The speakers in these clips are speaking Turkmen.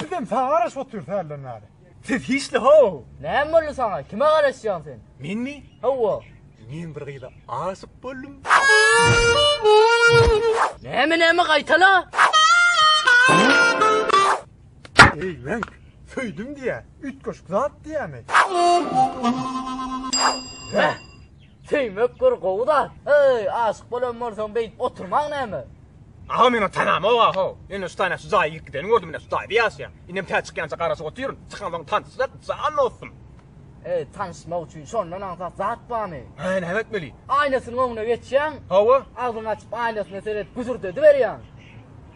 Bizem saňa garaşyp otyrys hälden bäri. Siz hiçli how! Näme boldy saňa? Kime garaşýaň sen? Menmi? Hawa. Men bir gyza aşyk boldum. Näme näme gaýtala? Eý, men söýdüm diýä. Üýtgeşik zat diýämi? Hä? Söýmek bir gowy zat. Eý, aşyk bolan bolsaň beýdip oturmaň näme? Aga men o tanama o aho. Indi şu taýna şu jaýa girip gideni gördüm ine şu taýda ýaşaýan. Indem tä çykýança garaşyp otyryn. Çykansoň tanyşsak jan dostum. Eý, tanyşmak üçin şondan aňsat zat barmy? Hä, näme etmeli? Aýnasynyň öňüne geçýäň. Hawa. Agzyňy açyp aýnasyna seredip güzürdediberýäň.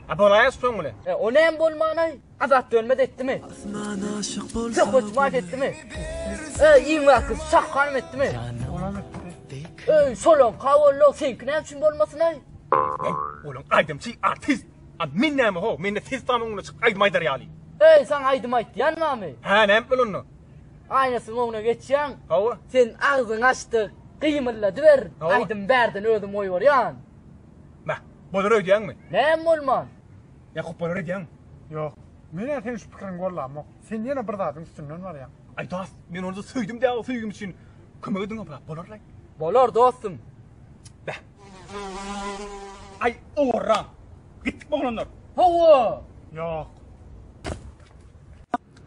A bolaýasy soň bilen. E, o näme bolmanaý? Azat dönmez etdimi? Söhbet maýyp etdimi? Öý iň wagty şah hanym etdimi? Öý solan kawollo seňki näme üçin bolmasyn aý? Olam aýdymçy, artist. A men näme ho, men de ses tamyň öňüne çykyp aýdym aýdar ýaly. Öý saň aýdym aýtýan bamy? Hä näme etmeli onda? Aýnasyň öňüne geçýäň. Hawa. Sen agzyňy açdyk, gymylladyber, aýdym bärden özüm goýberýän. Mä, bolar öýdýäňmi? Näme bolman? Ýa hupbalar edýäňmi? Ýok. Men-ä seniň şu pikiriňi gollamok. Sen ýene bir zadyň üstünden barýaň. Aý dost, men ony-da söýdüm däo söýgim üçin kömek ediň obrap bolarlaý. Bolar dostum. Beh. Aý owarra. Gitdikmi oglanlar? Hawa. Ýok.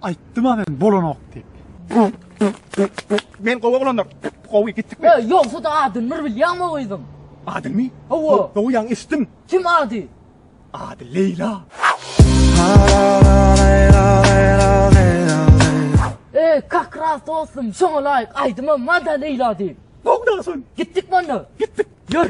Aýtdym-a men bolanok diýip. Men gowy oglandyr. Gowy gitdik biz. Ýogsa-da adyny bir bilýäňmi gyzyň? Adyny? Hawa. Gowy ýaňy eşitdim. Kim ady? Ady Leýla. E, kak ras dostum, şoňa laýyk aýdymam bar-da Leýla diýip. Gowy daşyn. Gitdikmi onda? Gitdik. Ýör.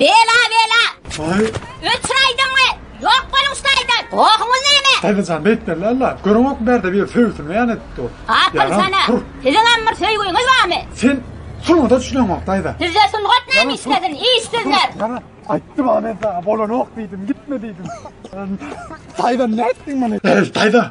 Bela bela. Ay. Ötür aýdyňmy? Ýok boluň şu taýdan. Gohuňyz näme? Taýdajan beýtler lalla. Görüňok berde bir söýsün beýan edip dur. Gapyň sana. Siziň hem bir söýgüňiz barmy? Sen Sungat üçin wagt aýda. Sizde sungat näme işledin? Işsizler. Bana aýtdy bana men sana bolanok diýdim, gitme diýdim. Taýda nätdiň meni? Taýda,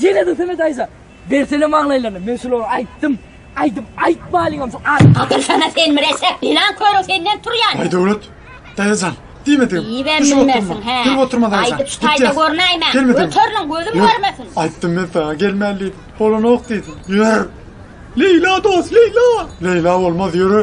Ýene-de Semet Aýza, bersene maňlaýlaryny, men şulary aýtdym, aýdyp aýtmalyňam şo at. Gatyrsana sen müreşşep, ýylan körüň senden turýan. Aý Döwlet, daýajan, diýmedim. Diýibem bilmersiň, hä? Gülüp oturma daýajan. Aýdyp şu taýda görnäýmäň. Gelmedim. Göteriliň, gözüm görmesin. Ýok, aýtdym men saňa, gelmän diýdim. Bolanok diýdim. Ýör. Leýla dost, Leýla! Leýla bolmaz, ýöre.